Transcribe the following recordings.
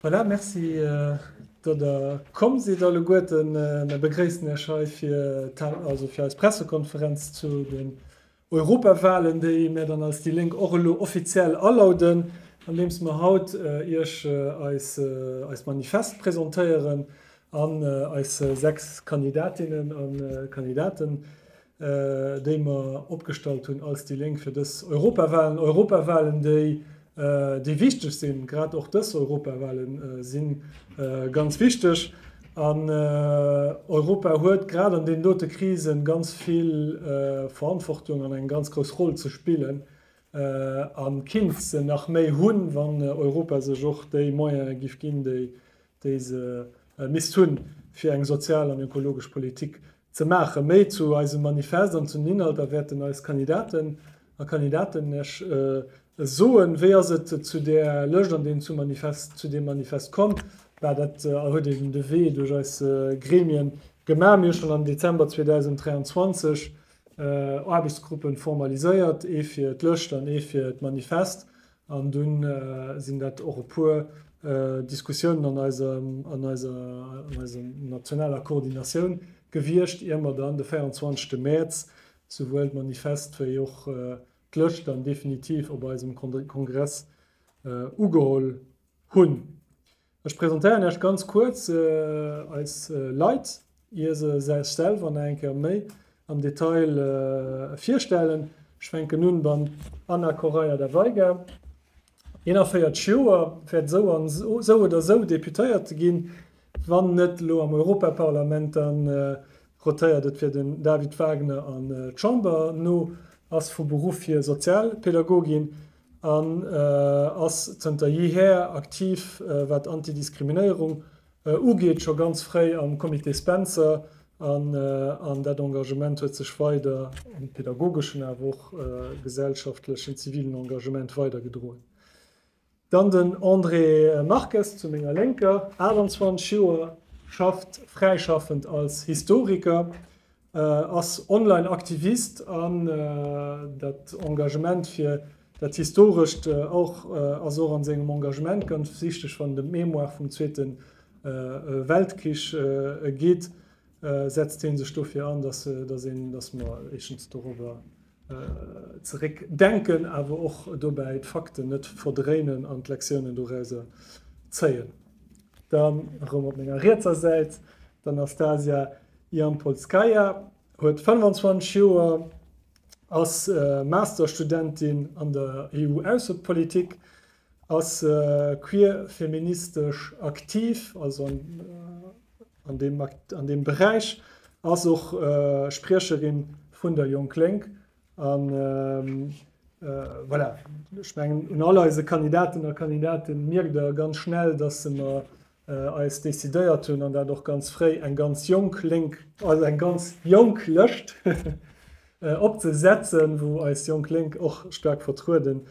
Voilà, merci datt der komm sidd alleguerten. Mer begréissen iech hei fir eis Pressekonferenz zu den Europawahlen, déi mär dann als déi Lénk och elo offiziell alauden, andeems mer haut iech eist Manifest presentéieren an eis 6 Kandidatinnen a Kandidaten. déi mer opgestallt hunn als déi Lénk fir dës Europawahlen, Europawahlen déi déi wichteg sinn, grad och dës Europawahlen si ganz wichteg an Europa huet grad an deenen dote Krisen ganz vill Verantwortung an eng ganz grouss Roll ze spillen a kinnt se nach méi hunn, wann Europa sech och déi Moyene giff ginn, déi se misst hunn, fir eng sozial an ökologesch Politik Ze maachen. Méi zu eisem Manifest an zu den Inhalter wäerten eis Kandidaten a Kandidaten Iech soen. Wéi ass et zu där Lëscht an deem zu Manifest, zu deem Manifest komm? War dat a huet een de Wee duerch eis Gremien gemaach? Mir hu schonn am Dezember 2023 Aarbechtsgruppen formaliséiert, ee fir d'Lëscht an ee fir d'Manifest. An dunn sinn dat och e puer Diskussiounen an eiser nationaler Koordinatioun gewiescht, ier mer dann de 24 Mäerz souwuel d'Manifest wéi och d'Lëscht dann definitiv op eisem Kongress ugeholl hunn. Ech presentéieren Iech ganz kuerz eis Leit, ier se sech selwer nach eng Kéier méi am Detail virstellen. Ech fänken un beim Ana Correia da Veiga, 41 Joer, wäert esou an esou oder esou Deputéierte ginn, wann net elo am Europaparlament, dann rotéiert et fir den David Wagner an d'Chamber no, ass vu Beruff hier Sozialpädagogin, an ass zënter jeeher aktiv wat Antidiskriminéierung ugeet, scho ganz fréi am Comité Spencer, an dat Engagement huet sech weider am pedagogeschen awer och gesellschaftlechen, zivilen Engagement weider gedroen. Dann den André Marques zu menger Lénker, 28 Joer, schafft fräischaffend als Historiker, ass online Aktivist an dat Engagement fir dat Historescht och ass och an sengem Engagement ganz wichteg, wann et em d'Mémoire vum Zweete Weltkrich geet, setzt hien sech dofir an, dass een, dass mer éischtens dorobber zeréck denken, awer och dobäi d'Fakten net verdréinen an d'Lektiounen dorauser zéien. Dann erëm op menger rietser Säit d'Anastasia Jampolskaya, huet 25 Joer, ass Masterstudentin an der EU-Aussepolitik, Ass queer feministesch aktiv, also an deem Beräich, ass och Spriecherin vun der Jonk Lénk. An voilà, ech mengen un all eise Kandidaten a Kandidaten mierkt der ganz schnell, dass se mer eis decidéiert hunn, an dat och ganz fréi, eng ganz jonk Lénk, also eng ganz jonk Lëscht opzesetzen, wou eis Jonk Lénk och staark vertrueden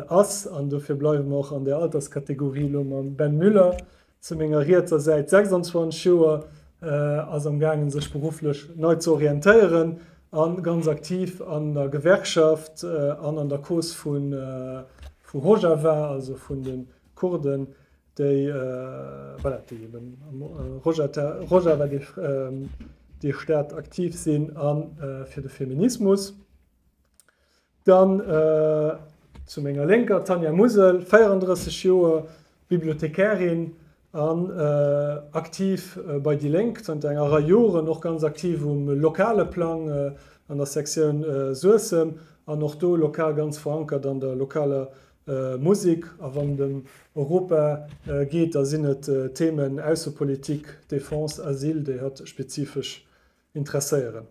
Ass, an dofir bleiwe mer och an där Alterskategorie elo mam Ben Müller zu menger rietser Säit, 26 Joer, ass am gaangen, sech berufflech nei ze orientéieren a ganz aktiv an der Gewerkschaft an an der Cause vu Rojava, also vun de Kurden, déi eben am Rojava, déi Stad, aktiv sinn, a fir de Feminismus. Dann zu menger Lénker d'Tanja Musel, 34 Joer, Bibliothekärin an aktiv bei déi Lénk zanter enger Rei Joren, och ganz aktiv um lokale Plang an der Sektioun Suessem an och do lokal ganz verankert an der lokaler Musek. A wann et ëm Europa geet, da sinn et d'Themen Aussepolitik, Defense, Asyl, déi hatt spezifesch interesséieren.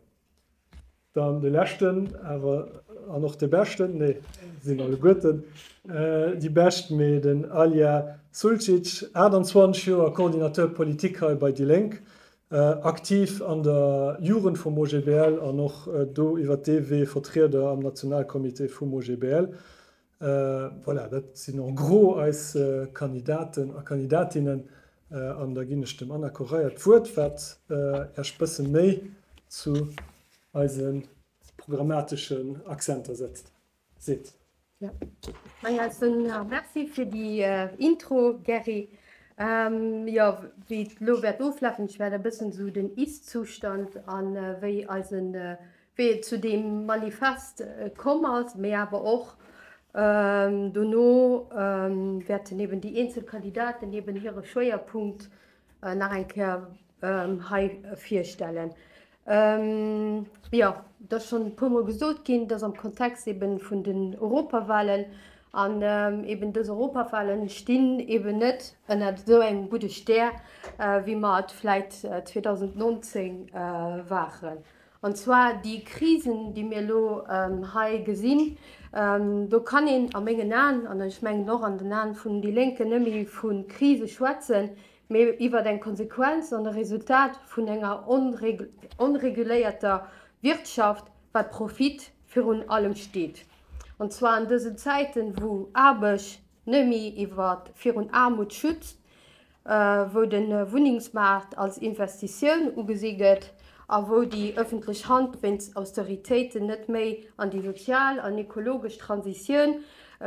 Dann de leschten, awer an och de beschten, nee, sinn alleguerten déi bescht, mee den Alya Suljic, 28 Joer, Coordinateur politique hei bei déi Lénk, aktiv an der Jugend vum OGBL an och do iwwert dee Wee Vertrieder am Nationalcomité vum OGBL. Voilà, dat sinn en gros eis Kandidaten a Kandidatinnen. An da ginn ech dem Anna Correia d'Wuert, wat Iech e bësse méi zu eise programmateschen Accenter setzt, seet. Jo, meng Eis soen der Merci fir déi Intro, Gerry. Jo, wéi et elo wäert oflafen, ech wäert e bëssen esou den Ist-Zustand a wéi eise wéi et zu deem Manifest komm ass, mee awer och dono wäerten eben déi eenzel Kandidaten eben hire Schwéierpunkt nach eng Kéier hei virstellen. Jo, et ass schonn e puermol gesot ginn, et ass am Kontext eben vun den Europawahlen. An eben dës Europawahlen stinn eben net ënner esou engem gudde Stär, wéi mer et vläicht 2019 waren. An zwar déi Krisen, déi mir elo hei gesinn. Do kann een a mengen Aen, an ech mengen och an den Aen vun déi Lénken, net méi vu Krise schwätzen, mee iwwer eng Konsequenz an e Resultat vun enger onreguléierter Wirtschaft, wat Profit virun allem steet. An zwar an dësen Zäiten, wou Aarbecht net méi virun Aarmut schützt. wou de Wunnengsmaart als Investitioun ugesi gëtt a wou déi ëffentlech Hand wéinst Austeritéiten net méi an déi sozial an ekologesch Transitioun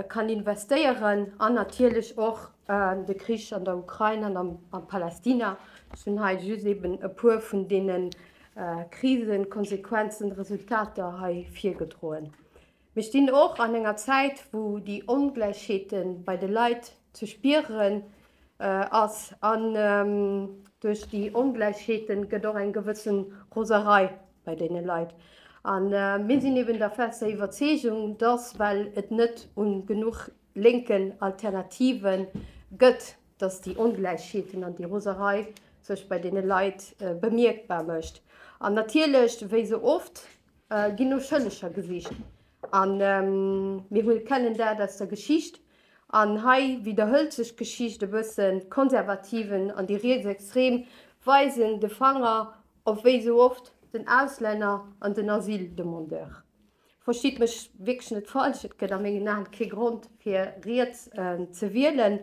kann investéieren an natierlech och de Krich an der Ukrain an a Palästina. Ech hunn hei just eeben e puer vun deene Krisen, Konsequenzen, Resultater hei virgedroen. Mir stinn och an enger Zäit, wou déi Ongläichheete bei de Leit ze spiere ass an duerch déi Ongläichheete gëtt och eng gewësse Roserei bei deene Leit. A mir sinn eben der fester Iwwerzeegung, dass, well et net u genuch lénken Alternative gëtt, dass déi Ongläichheeten an déi Roserei sech bei deene Leit bemierkbar mécht. An natierlech, wéi esou oft, Äh, ginn no Schëlleger gesicht. An ähm, mir wul kennen dat aus der Geschicht. An hei widderhëlt sech d'Geschicht e bëssen, d'Konservativen an déi Rietsextrem weisen de Fanger op wéi esou oft den Auslänner an den Asyldemandeur. Verstitt mech wierklech net falsch, et gëtt a mengen Aen kee Grond fir riets ähm, ze wielen,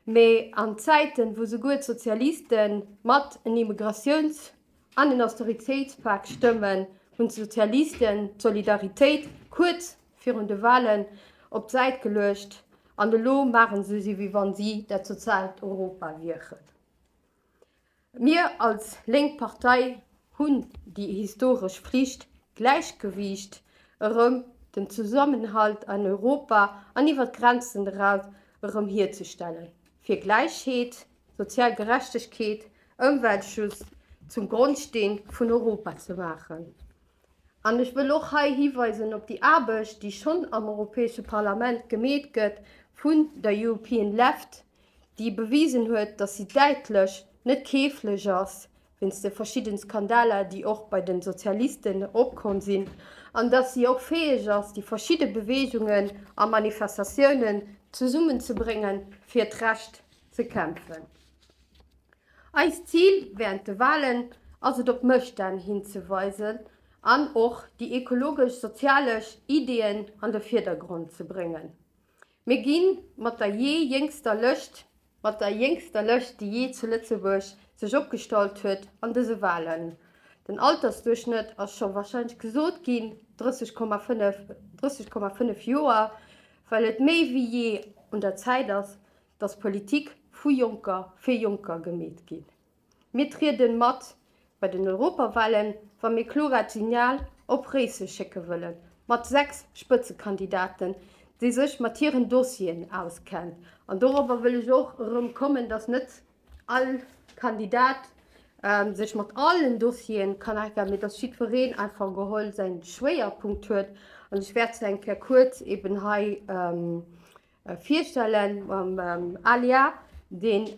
mee an Zäiten wou souguer d'Sozialiste mat en Immigratiouns An den Austeritéitspak stëmmen, hunn d'Sozialisten d'Solidaritéit kuerz virun de Wahlen op d'Säit geluecht an elo maachen se sou wéi wann si dat soziaalt Europa wieren. Mir als lénk Partei hunn déi historesch Flicht, d'Gläichgewiicht erëm, den Zesammenhalt an Europa an iwwer d'Grenzen eraus erëm hierzestellen, fir Gläichheet, Sozial Gerechtegkeet, Ëmweltschutz zum Grondsteen vun Europa ze maachen. An ech wëll och hei hiweisen op déi Aarbecht, déi schonn am Europäesche Parlament gemeet gëtt vun der European Left, déi bewisen huet, datt si däitlech net keeflech ass wéinst de verschidde Skandaler, déi och bei de Sozialisten opkomm sinn, an datt si och fäeg ass, déi verschidde Beweegungen a Manifestatiounen zesummenzebréngen fir d'Recht. ze kämpfen. Eist Zil während de Wahlen ass et op Mësstänn hinzeweisen an och déi ekologesch-sozialesch Ideeën an de Virdergrond ze bréngen. Mir gi mat der jee jéngster Lëscht, mat der jéngster Lëscht déi jee zu Lëtzebuerg sech opgestallt huet an dëse Wahlen. Den Altersduerchschnëtt ass scho wahrscheinlech gesot ginn, 30,5 Joer, well et méi wéi jee un der Zäit ass dass Politik vu Jonker fir Jonker gemeet ginn. Mir trieden mat bei den Europawahlen, wa mir kloraat Signal op Réisseg schécken wëllen, mat 6 Spëtzekandidaten, déi sech mat hiren Dossieren auskennt. An dorobber wëll ech och erëm kommen, dass net all Kandidat sech mat allen Dossieren kann auskennen, mee dass jiddwereen einfach geholl säin Schwéierpunkt huet. An ech wäert se eng Kéier kuerz eben hei Virstellen mam Alia, deen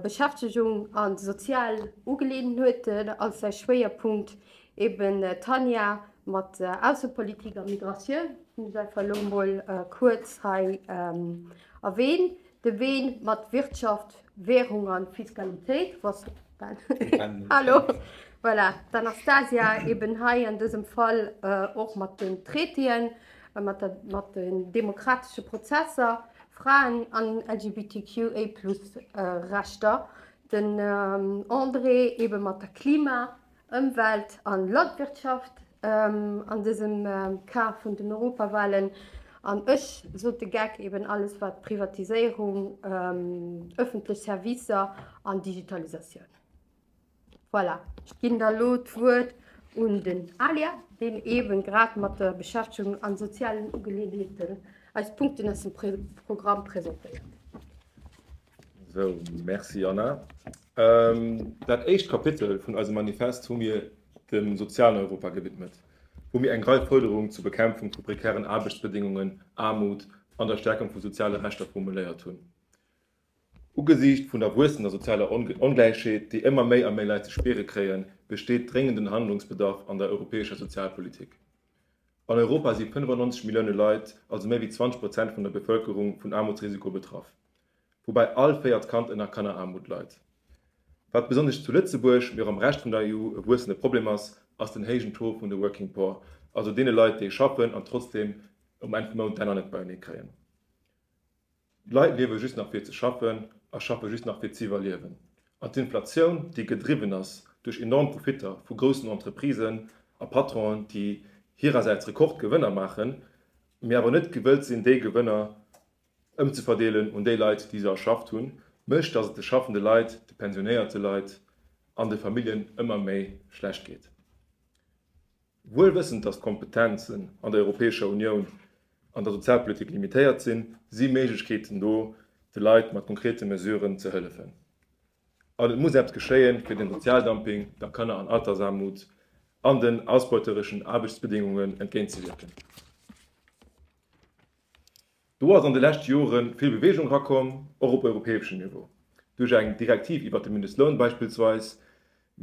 Beschäftegung an sozial Ugeleeënheeten als säi Schwéierpunkt, eben Tanja mat Aussepolitik a Migratioun, hunn ech einfach elo mol kuerz hei erwähnt, de Ween mat Wirtschaft, Währung an Fiskalitéit, hallo, voilà, d'Anastasia eben hei an dësem Fall och mat den Traitéen, mat den demokratesche Prozesser, Fraen an LGBTQIA plus Rechter, den André ebe mat der Klima-, Ëmwelt a Landwirtschaft an dësem Cas vun den Europawahlen an ech, Sote Geck, eben alles wat Privatiséierung, ëffentlech Servicer an Digitalisatioun. Voilà, ech ginn da lo d'Wuert un den Alia, deen eeben grad mat der Beschäftegung an sozialen Ugeleeënheeten eis Punkten aus dem Programm presentéiert. Sou, merci Anna. Dat éischt Kapitel vun eisem Manifest hu mir dem sozialen Europa gewidmet, wou mir eng Rei Fuerderungen zur Bekämpfung vu prekären Aarbechtsbedingungen, Aarmut an der Stärkung vu soziale Rechter formuléiert hunn. Ugesiicht vun der wuessender sozialer Ongläichheet, déi ëmmer méi a méi Leit ze spiere kréien, besteet dréngenden Handlungsbedarf an der europäescher Sozialpolitik. An Europa si 95 Millioune Leit, also méi wéi 20 Prozent vun der Bevëlkerung, vun Aarmutsrisiko betraff, woubäi all véiert Kand ënner Kanneraarmut leit. Wat besonnesch zu Lëtzebuerg, mee och am Rescht vun der EU e wuessende Problem ass, ass den héijen Taux vun de working poor, also deene Leit, déi schaffen an trotzdeem um Enn vum Mount d'Enner net beienee kréien. D'Leit liewe just nach fir ze schaffen a schaffe just nach fir z'iwwerliewen. An d'Inflatioun, déi gedriwwen ass duerch enorm Profitter vu groussen Entreprisen a Patronen, déi hirersäits Rekordgewënner maachen, mee awer net gewëllt sinn, déi Gewënner ëmzeverdeelen un déi Leit, déi se erschafft hunn, mécht, dass et de schaffende Leit, de pensionéierte Leit an de Familljen ëmmer méi schlecht geet. Wuel wëssend, datt d'Kompetenzen an der Europäescher Unioun an der Sozialpolitik limitéiert sinn, si Méiglechkeeten do, de Leit mat konkrete Mesuren ze hëllefen. An et muss eppes geschéien, fir dem Sozialdumping, der Kanner an Altersarmut an den ausbeutereschen Aarbechtsbedingungen entgéintzewierken. Do ass an de leschte Jore vill Beweegung erakomm, och op europäeschem Niveau, duerch eng Direktiv iwwert de Mindestloun beispillsweis,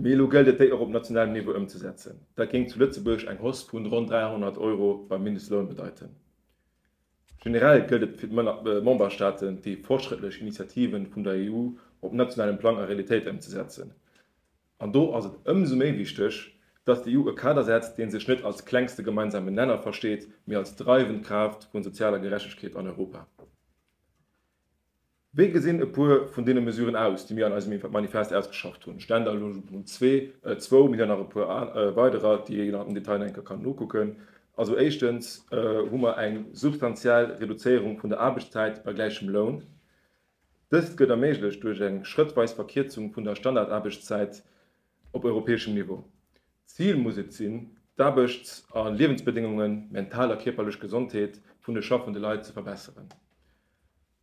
mee elo gëllt et, déi och op nationalem Niveau ëmzesetzen. Dat géing zu Lëtzebuerg eng Hausse vun ronn 300 Euro beim Mindestloun bedeiten. Generell gëllt et fir d'Memberstaaten, déi fortschrëttlech Initiativen vun der EU op nationalem Plang a Realitéit ëmzesetzen. An do ass et ëmsou méi wichteg, datt d'EU e Kader setzt, dee sech net als klengste gemeinsamen Nenner versteet, mee als dreiwend Kraaft vun sozialer Gerechtegkeet an Europa. Wéi gesinn e puer vun deene Mesuren aus, déi mir an eisem Manifest ausgeschafft hunn? Ständerlung zwou, mir hunn nach e puer weiderer, déi een am Detail nach eng Kéier kann nokucken. Also éischtens hu mer eng substantiell Reduzéierung vun der Aarbechtszäit bei gläichem Loun. Dëst gëtt erméiglecht duerch eng schrëttweis Verkierzung vun der Standardaarbechtszäit op europäeschem Niveau. D'Zil muss et sinn, d'Aarbechts a Liewensbedéngungen, mental a kierperlech Gesondheet vun de schaffende Leit ze verbesseren.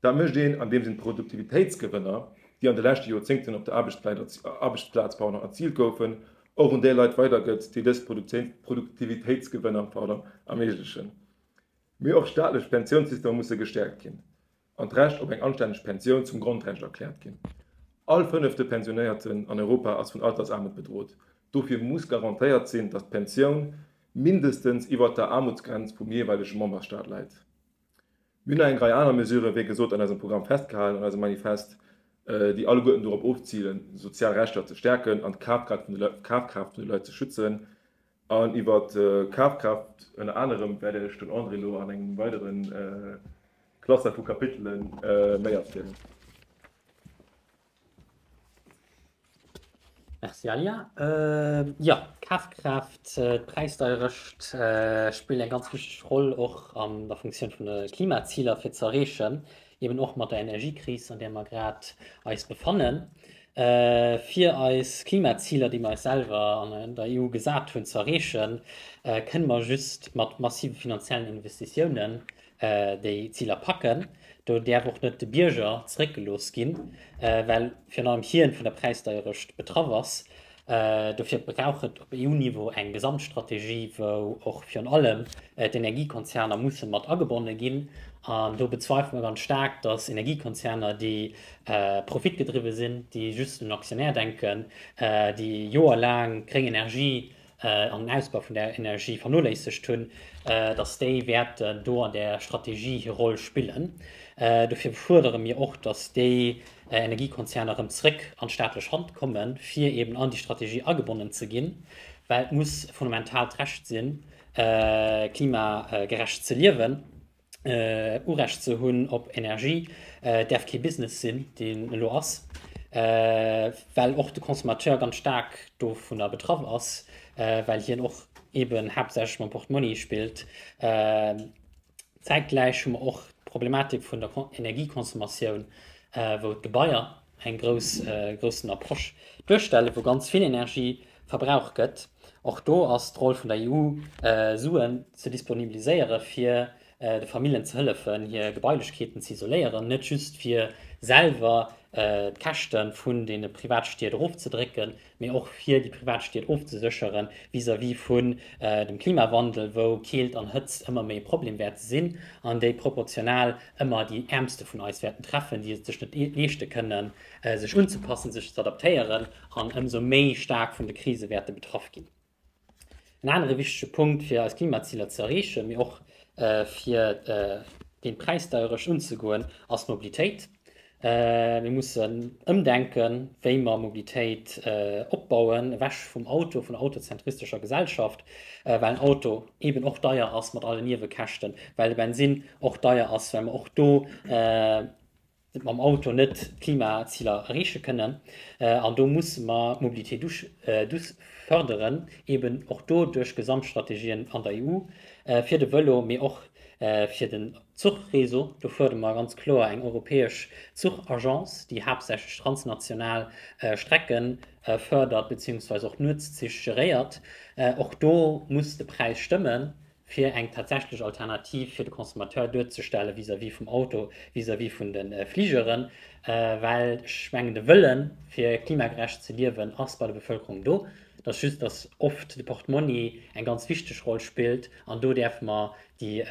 Dat mécht een, andeems een d'Produktivitéitsgewënner, déi an de leschte Joerzéngten op der Aarbechtsplaz erziilt goufen, och un déi Leit weidergëtt, déi dës Produktivitéitsgewënner erméiglechen. Mee och staatlech Pensiounssystemer musse gestäerkt ginn. an d'Recht op eng anstänneg Pensioun zum Grondrecht erkläert ginn. All fënnefte Pensionéierten an Europa ass vun Altersaarmut bedrot. Dofir muss garantéiert sinn, datt d'Pensioun mindestens iwwert der Aarmutsgrenz vum jeeweilege Memberstaat läit. Mir hunn nach eng Rei aner Mesurë, wéi gesot, an eisem Programm festgehalen, an eisem Manifest, déi alleguerten dorop ofzilen, sozial Rechter ze stäerken an d'Kafkraaft vun de Leit ze schützen. An iwwer d'Kafkraaft ënner anerem wäert Iech den André elo an engem weidere Cluster vu Kapitele méi erzielen. Merci Alia. Jo, d'Kafkraaft, d'Präisdeierecht spillen eng ganz wichteg Roll och an der Funktioun vun de Klimaziler fir ze erreechen. eben och mat der Energiekris, an där mer grad eis befannen, fir eis Klimaziler, déi mer eis selwer an der EU gesat hunn, ze erreechen, kënne mer just mat massive finanziellen Investitiounen déi Ziler packen. Do däerf och net de Bierger zeréckgelooss ginn, well virun allem hien vun der Präisdeierecht betraff ass. Dofir brauch et op EU-Niveau eng Gesamtstrategie, wou och virun allem d'Energiekonzerner musse mat agebonne ginn. An do bezweifele mer ganz staark, dass Energiekonzerner, déi profitgedriwwe sinn, déi just un den Aktionär denken, déi joerlaang gréng Energie an den Ausbau vun der Energie vernoléissegt hunn, dass déi wäerten do an där Strategie hir Roll spillen. Dofir fuerdere mir och, dass déi Energiekonzerner erëm zréck an d'staatlech Hand kommen, fir eben an déi Strategie agebonnen ze ginn, well et muss e fundamentaalt Recht sinn, klimagerecht ze liewen. Urecht ze hunn op Energie däerf kee Business sinn, deen elo ass, well och de Consommateur ganz staark dovunner betraff ass, well hien och eben haaptsächlech mam Portmonni spillt. Zäitgläich hu mer och d'Problematik vun der Energieconsommation, wou d'Gebaier en groussen Approche duerstellen, wou ganz vill Energie verbraucht gëtt. Och do ass d'Roll vun der EU, Suen ze disponibiliséieren, fir de Familljen ze hëllefen, hir Gebailechkeeten ze isoléieren, net just fir selwer d'Käschte vun deene Privatstied erofzedrécken, mee och fir déi privat Stied ofzeséchere vis-à-vis vun dem Klimawandel, wou Keelt an Hëtzt ëmmer méi e Problem wäerte sinn an déi proportional ëmmer déi Äermste vun eis wäerten treffen, déi et sech net leeschte kënnen, sech unzepassen, sech z'adaptéieren an ëmsou méi staark vun de Krise wäerte betraff ginn. En anere wichtege Punkt, fir eis Klimaziler ze erreechen, mee och fir géint d'Präisdeierecht unzegoen, ass d'Mobilitéit. Mir mussen ëmdenken, wéi mer Mobilitéit opbauen, ewech vum Auto, vun der autozentristescher Gesellschaft, well en Auto eeben och deier ass mat alle Niewekäschten, well de Bensinn och deier ass, well mer och do mam Auto net d'Klimaziler erreeche kënnen an do musse mer d'Mobilité douce fërderen, eben och do duerch Gesamtstrategien an der EU, fir de Vëlo, mee och fir den Zuchreseau. Do fuerdere mer ganz kloer eng europäesch Zuchagence, déi haaptsächlech transnational Strecke fërdert, beziehungsweise och Nuetszich geréiert. Och do muss de Präis stëmmen, fir eng tatsächlech Alternativ fir de Consommateur duerzestelle vis-à-vis vum Auto, vis-à-vis vun de Fligeren, well ech mengen, de Wëlle fir klimagerecht ze liewen ass bei der Bevëlkerung do. Et ass just, dass oft de Portmonni eng ganz wichteg Roll spillt an do däerfe mer déi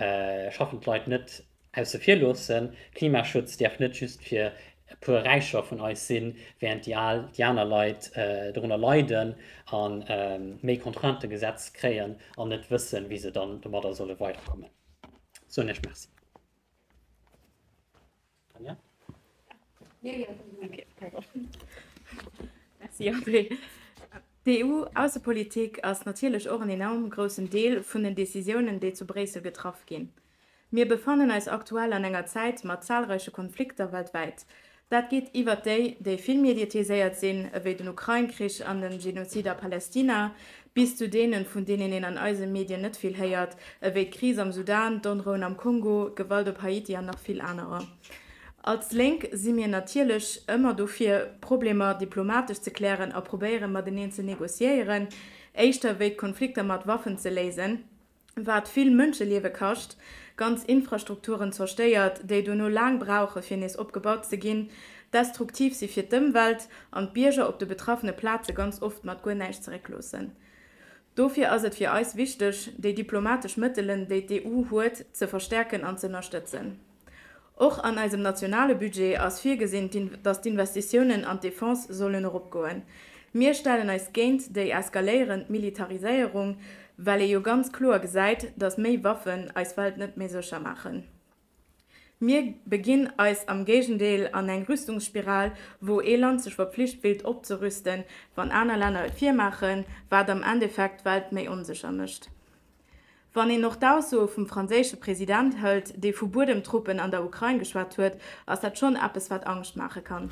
schaffend Leit net Ausse vir loossen, Klimaschutz däerf net just fir e puer Räicher vun eis sinn, während déi al, déi aner Leit dorunner leiden a méi Contraintë gesetzt kréien an net wëssen, wéi se dann domadder solle weiderkommen. Soen ech Merci. Tanja? Merci André. D'EU-Aussepolitik ass natierlech och en enorm groussen Deel vun den Decisiounen, déi zu Bréissel getraff ginn. Mir befannen eis aktuell an enger Zäit mat zahlreiche Konflikter weltwäit. Dat geet iwwert déi, déi vill mediatiséiert sinn, ewéi den Ukrain-Krich an den Genozid a Palestina, bis zu deenen, vun deenen een an eise Medien net vill héiert, ewéi d'Kris am Sudan, d'Onrouen am Kongo, Gewalt op Haiti an nach vill anerer. Als Lénk si mir natierlech ëmmer dofir, Problemer diplomatesch ze klären a probéieren, mateneen ze negociéieren, éischter ewéi d'Konflikter mat Waffen ze léisen. wat vill Mënscheliewe kascht, ganz Infrastrukturen zerstéiert, déi dono laang brauche fir nees opgebaut ze ginn, destruktiv si fir d'Ëmwelt an d'Bierger op de betraffene Plaze ganz oft mat guer näischt zeréckloossen. Dofir ass et fir eis wichteg, déi diplomatesch Mëttelen, déi d'EU huet, ze verstärken an z'ënnerstëtzen. Och an eisem nationale Budget ass virgesinn, datt d'Investitiounen an d'Defense sollen eropgoen. Mir stellen eis géint déi eskaléierend Militariséierung, well ee jo ganz kloer gesäit, datt méi Waffen eis Welt net méi sécher maachen. Mir beginn eis am Géigendeel an eng Rüstungsspiral, wou ee Land sech verpflicht fillt opzerüsten, wann aner Länner et virmaachen, wat am Endeffekt d'Welt méi onsécher mécht. Wann een och d'Aussoe vum franséische President hëlt, dee vu Buedemtruppen an der Ukrain geschwat huet, ass dat schonn eppes, wat Angscht maache kann.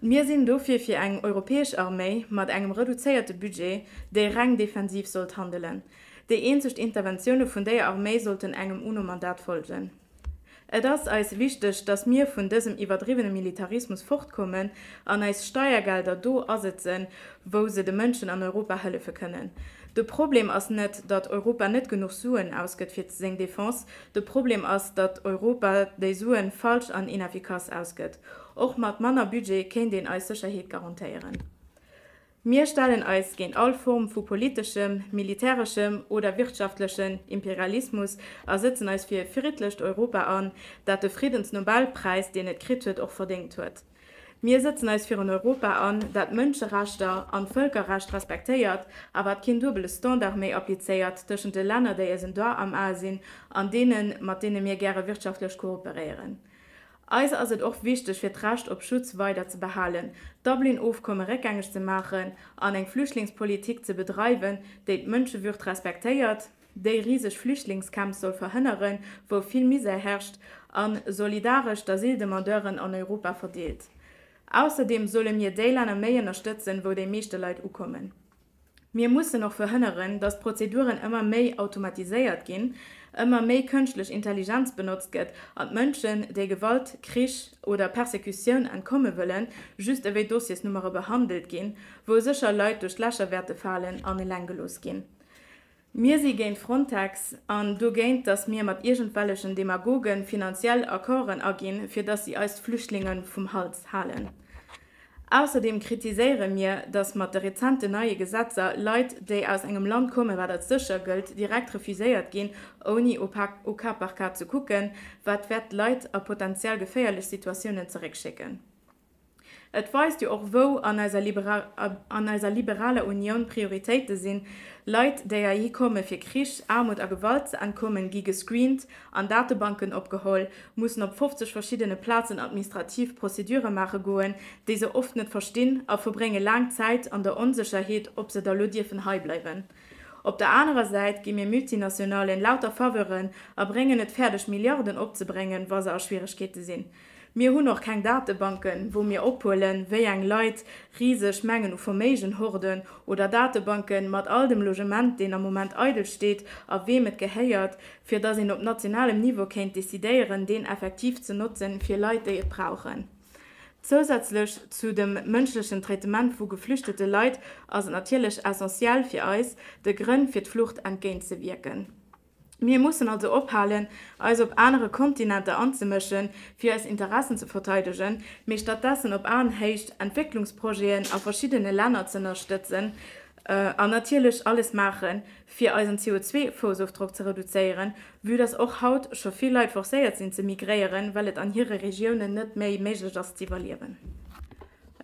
Mir sinn dofir fir eng europäesch Arméi mat engem reduzéierte Budget, déi reng defensiv sollt handelen. Déi eenzeg Interventioune vun déier Arméi sollten engem UNO-Mandat folgen. Et ass eis wichteg, datt mir vun dësem iwwerdriwwene Militarismus fortkommen an eis Steiergelder do asetzen, wou se de Mënschen an Europa hëllefe kënnen. De Problem ass net, datt Europa net genuch Suen ausgëtt fir seng Defense, de Problem ass, datt Europa déi Sue falsch an ineffikass ausgëtt. Och mat manner Budget kéint een eis Sécherheet garantéieren. Mir stellen eis géint all Form vu politeschem, militäreschem oder wirtschaftlechen Imperialismus a sëtzen eis fir e friddlecht Europa an, dat de Friddensnobelpräis, deen et kritt huet, och verdéngt huet. Mir sëtzen eis fir en Europa an, dat d'Mënscherechter an d'Vëlkerrecht respektéiert a wat keen duebele Standard méi applizéiert tëschent de Länner, déi eisen Doigt am Ae sinn, an deenen, mat deene mir gäre wirtschaftlech kooperéieren. Eis ass et och wichteg fir d'Recht op Schutz weider ze behalen, d'Dublin-Ofkomme réckgängeg ze maachen an eng Flüchtlingspolitik ze bedreiwen, déi d'Mënschewürd respektéiert, déi riseg Flüchtlingscamps soll verhënneren, wou vill Misär herrscht, a solidaresch d'Asyldemandeuren an Europa verdeelt. Ausserdeem solle mir déi Länner méi ënnerstëtzen, wou déi meeschte Leit ukommen. Mir mussen och verhënneren, datt d'Prozeduren ëmmer méi automatiséiert ginn, ëmmer méi kënschtlech Intelligenz benotzt gëtt an d'Mënschen, déi Gewalt, Krich oder Persekutioun entkomme wëllen, just ewéi Dossiersnummere behandelt ginn, wou sécher Leit duerch d'Lächer wäerte falen an eleng gelooss ginn. Mir si géint Frontex an dogéint, datt mir mat iergendwellechen Demagoge finanziell Accorden aginn, fir datt si eis d'Flüchtlinge vum Hals halen. Ausserdeem kritiséiere mir, datt mat de rezenten neie Gesetzer Leit, déi aus engem Land kommen, wat als sécher gëllt, direkt refuséiert ginn, ouni au cas par cas ze kucken, wat wäert d'Leit a potenziell geféierlech Situatiounen zeréckschécken. Et weist jo och wou an eiser liberaler Unioun Prioritéite sinn, Leit déi heihi komme fir Krich, Aarmut a Gewalt ze entkommen gi gescreent, an Datebanken opgeholl, mussen op 50 verschiddene Plazen administrativ Procédure maache goen, déi se oft net verstinn a verbrénge laang Zäit an der Onsécherheet ob se da lo dierfen hei bleiwen. Op der anerer Säit gi mir Multinationalen lauter Faveuren a bréngen et fäerdeg Milliarden opzebréngen wa se a Schwieregkeete sinn. Mir hunn och keng Datebanken, wou mir ophuelen, wéi eng Leit riseg Mengen u Verméigen horten, oder Datebanken mat all dem Logement, deen am Moment eidel steet a weem et gehéiert, fir dass een op nationalem Niveau kéint decidéieren, deen effektiv ze notzen, fir Leit, déi et brauchen. Zousätzlech zu dem mënschlechen Traitement vu geflüchtete Leit ass et natierlech essentiell fir eis, de Grënn fir d'Flucht entgéintzewierken. Mir mussen also ophalen, eis op anere Kontinenter anzemëschen, fir eis Interessen ze verteidegen, mee stattdessen op Aenhéicht Entwécklungsprojeten a verschiddene Länner ze ënnerstëtzen an natierlech alles maachen, fir eisen CO2-Foussofdrock ze reduzéieren, vue dass och haut scho vill Leit forcéiert sinn ze migréieren, well et an hire Regiounen net méi méiglech ass z'iwwerliewen.